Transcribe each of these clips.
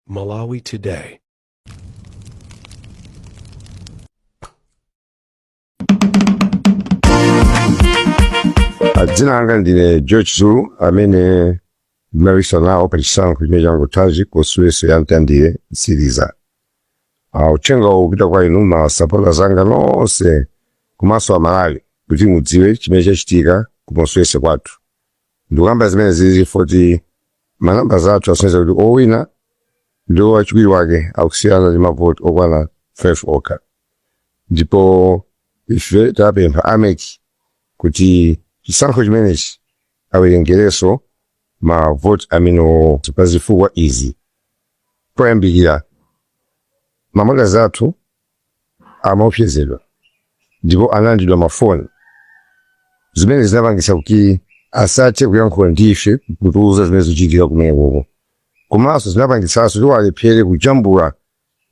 Malawi Today. Ah, dzina langa ndine George Zulu amene ndinapikisana nawo pa chisankho chimene changothachi ku constituency ya Mtandire Mtsiriza Ah, uthenga uwu upita kwa inu masapota zanga nonse komanso Amalawi kuti mudziwe chimene chachitika ku constituency kwathu Ndikukamba zimenezi chifukwa choti ma numbers athu akusonyeza kuti owina ndi wachiwiri wake akusiyana ndi mavoti okwana 5 okha ndipo ife tapempha a MEC kuti chisankho chimenechi awerengerenso mavoti amenewowo pa zifukwa izi, Poyambirira, ma monitors athu amaopsezedwa ndipo analandidwa mafoni zimene zinapangisa kuti asathe kuyankhula ndi ife kutiuza zimene zikuchitika kumenekoko komanso zinapangisanso kuti alephere kujambula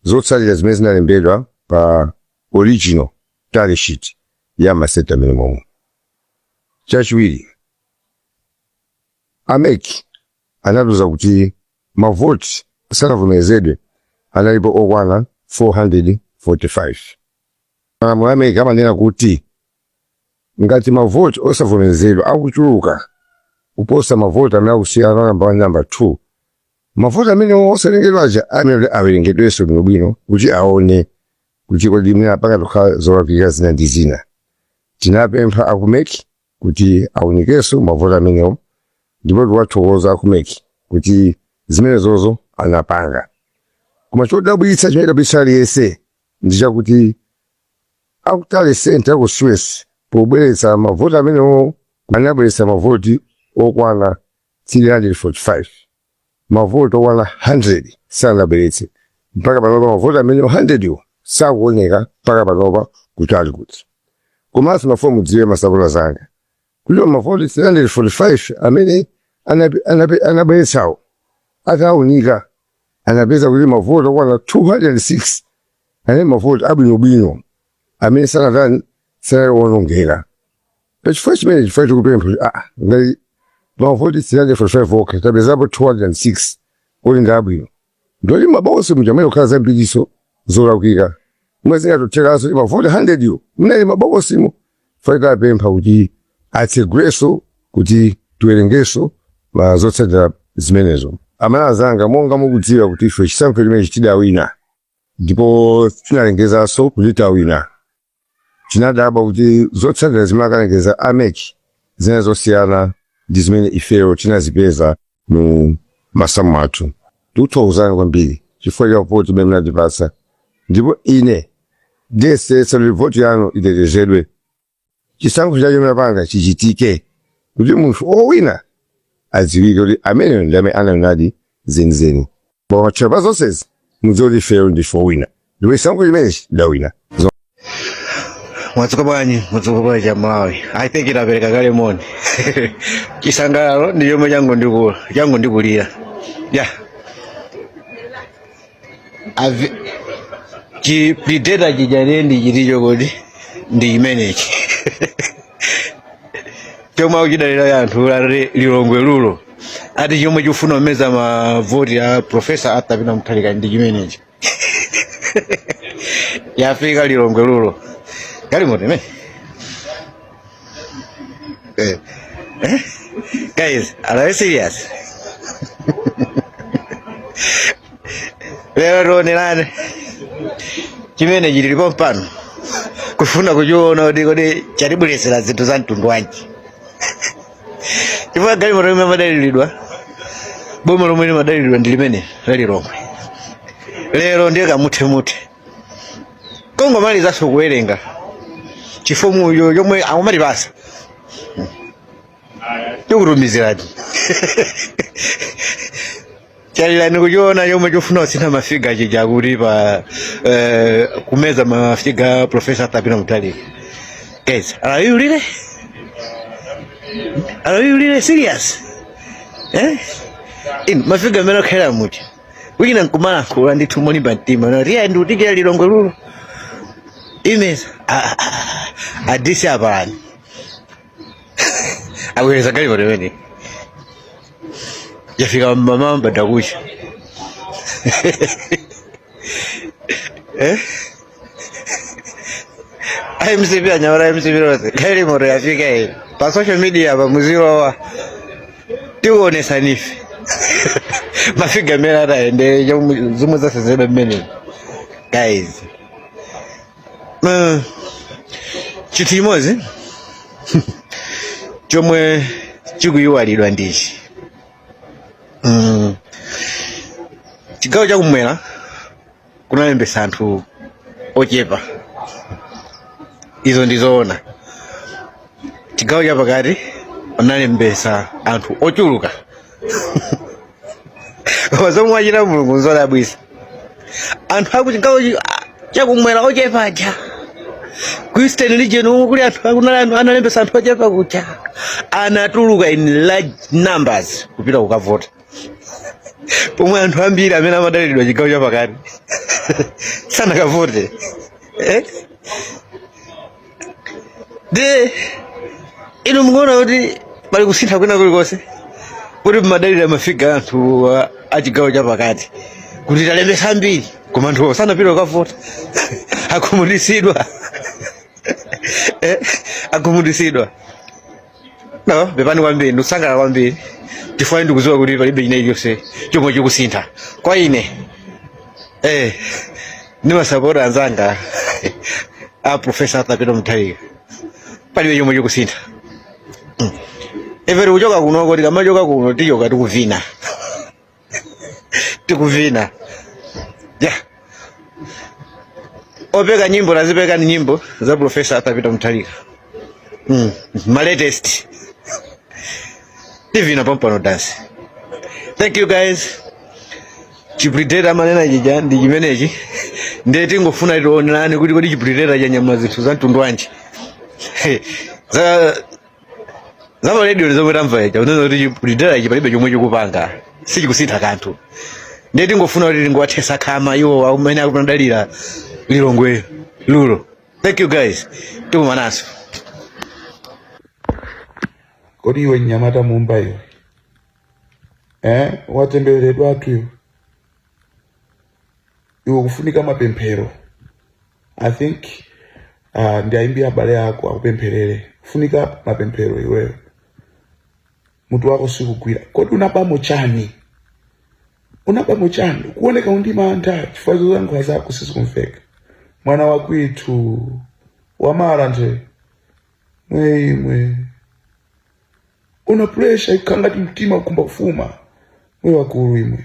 zotsalira zimene zinalembedwa pa original tally sheet ya masenta mmenemomo chachiwiri a MEC anatiuza kuti Mavoti asanavomerezedwe, analipo okwana 445. Malamulo a MEC amanena kuti ngati mavoti osavomerezedwa akuchuluka kuposa mavoti amene akusiyana wa namba 1 ndi namba 2, mavoti amenewo osawerengedwa aja ayenera kuti awerengedwenso bwinobwino kuti aone kuti kodi mwina pangathe kukhala zolakwika zina ndi zina. Tinapempha a ku MEC kuti aunikenso mavoti amenewo ndipo tikuwathokoza a ku MEC kuti zimenezozo anapanga koma chodabwitsa chimene chinadabwitsa aliyense ndi chakuti a ku tally centre ku constituency pobweretsa mavoti amenewo anabweretsa mavoti okwana 345 mavoti okwana 100 sanabweretse mpaka panopa mavoti amenewo 100 wo sakuoneka mpaka panopa kuti ali kuti komanso ndimafuna mudziwe masapota zanga kuti mavoti 345 amene anape- anape- anabweretsawo ataunika anapeza kuti mavoti okwana 206 anali mavoti abwinobwino amene sanatani sanali owonongeka pachifukwa chimenechi ife tikupempha kuti aa ngati mavoti 345 okha tapezapo 206 kuti ndi abwino ndiye kuti m'mabokosi muja muyenera kukhala zambiriso zolakwika mwina zingatothekanso ndi mavoti 100 wo ali m'mabokosimo ife tapempha kuti atseguleso kuti tiwerengeso ma zotsatira zimenezo Amalawi anzanga monga mukudziwa kuti ife chisankho chimenechi tidawina ndipo tinalengezanso kuti tawina Tinadabwa kuti zotsatira zimene akalengeza a mec zinali zosiyana ndi zimene ifeyo tinazipeza mu masamu athu. Tikuthokozani kwambiri chifukwa cha voti imene munatipatsa ndipo ine ndiyesetsa kuti voti yanu itetezedwe. Chisankho chomwe munapanga chichitike kuti munthu owina adziwike kuti ameneyo ndi amene anawinadi zenizeni koma patchera pa zonsezi mudziwe kuti ifeyo ndife owina ndipo chisankho chimenechi tidawina mwadzuka bwanji mwadzuka bwanji a malawi i think inapereka kale moni chisangalalo ndi chomwe changondikulira ya Ave- chi prideta chijane ndi chiticho kodi ndi chimenechi chomwe akuchidalira anthu a lilongwe rural ati chomwe chikufuna kumeza mavoti ya profesa arthur peter mutharika ndi chimenechi yafika lilongwe rural galimoto imene Eh. Eh? guys are you serious lero tionerane chimene chili pompano kufuna kuchiona kuti kodi chatibweretsera zinthu za mtundu wanji chifukwa galimoto imene imadaliridwa boma lomwe limadaliridwa ndi limene la lilongwe lero ndiye kamuthemuthe kongomalizanso kuwerenga chifomucho chomwe akumatipasa tikutumizirani chalirani kuchiona chomwe chofuna kusintha mafiga chija kuti pa eh, kumeza mafiga profesa arthur peter mutharika guys are you really are you really serious eh in mafiga amene akwera muti wina nkumala kula ndi thumo limba mtima na riya ndi utikira lilongwe rural imeza adisi apalani abwereza galimoto imene yafika m'mawa m'bandakucha eh? mcp anyamata mcp nonse galimoto yafika iyi pa social media pa muzilowa tikuonesani ife mafiga mmene ataendere zomwe zasenzedwa mmenemo guys Uh, chinthu chimodzi chomwe chikuyiwalidwa ndichi mm. chigawo chakumwera kunalembesa anthu ochepa izo ndizoona chigawo chapakati kunalembesa anthu ochuluka zomwe achita mulungu nzodabwitsa anthu akuchigawo chakumwera ochepa aja ku eastern region umu kuli anthu akunali anthu analembesa anthu ochepa kuja anatuluka in large numbers kupita kukavota pomwe anthu ambiri amene amadalidwa chigawo chapakati sanakavote eh? nde inu mukuona kuti pali kusintha kwina kulikonse kuti mmadalira mafiga anthu a- a chigawo chapakati kuti talembesa ambiri koma anthu sanapite kukavota akhumudwitsidwa Eh, akhumudwitsidwa No, pepani kwambiri ndikusangalala kwambiri chifukwa ndikudziwa kuti palibe china chilichonse chomwe chikusintha kwa ine eh ndimasapota anzanga a profesa arthur peter mutharika palibe chomwe chikusintha Mm. ife tikuchoka kunoko tikamachoka kuno tichoka tikuvina tikuvina yeah. opeka nyimbo tazipekani nyimbo za profesa arthur peter mutharika mm. ma latest tivina pampano dansi thank you guys chipritera amanena chija ndi chimenechi ndiye tingofuna tionerane kuti kodi chipritera chanyamula zinthu za mtundu wanji za za pa radio zomwe tamva zija kunena kuti lidera ichi palibe chomwe chikupanga sichikusintha kanthu ndiye tingofuna kuti tingowathetsa khama iwo amene akumadalira lilongwe lulo thank you guys tikumanenso kodi iwe mnyamata mumba iwe eh? watembereredwatu iwe iwe kufunika mapemphero i think uh, ndiwayimbira abale ako akupempherere kufunika mapemphero iweyo mutu wako sikugwira kodi unabamo chani unabamo chani kuoneka uli ndi mantha chifukwa zolankhula zako sizikumveka mwana wakwitu wamara nje mweimwe una pressure ikangati mtima ukumba kufuma mwe wakulu imwe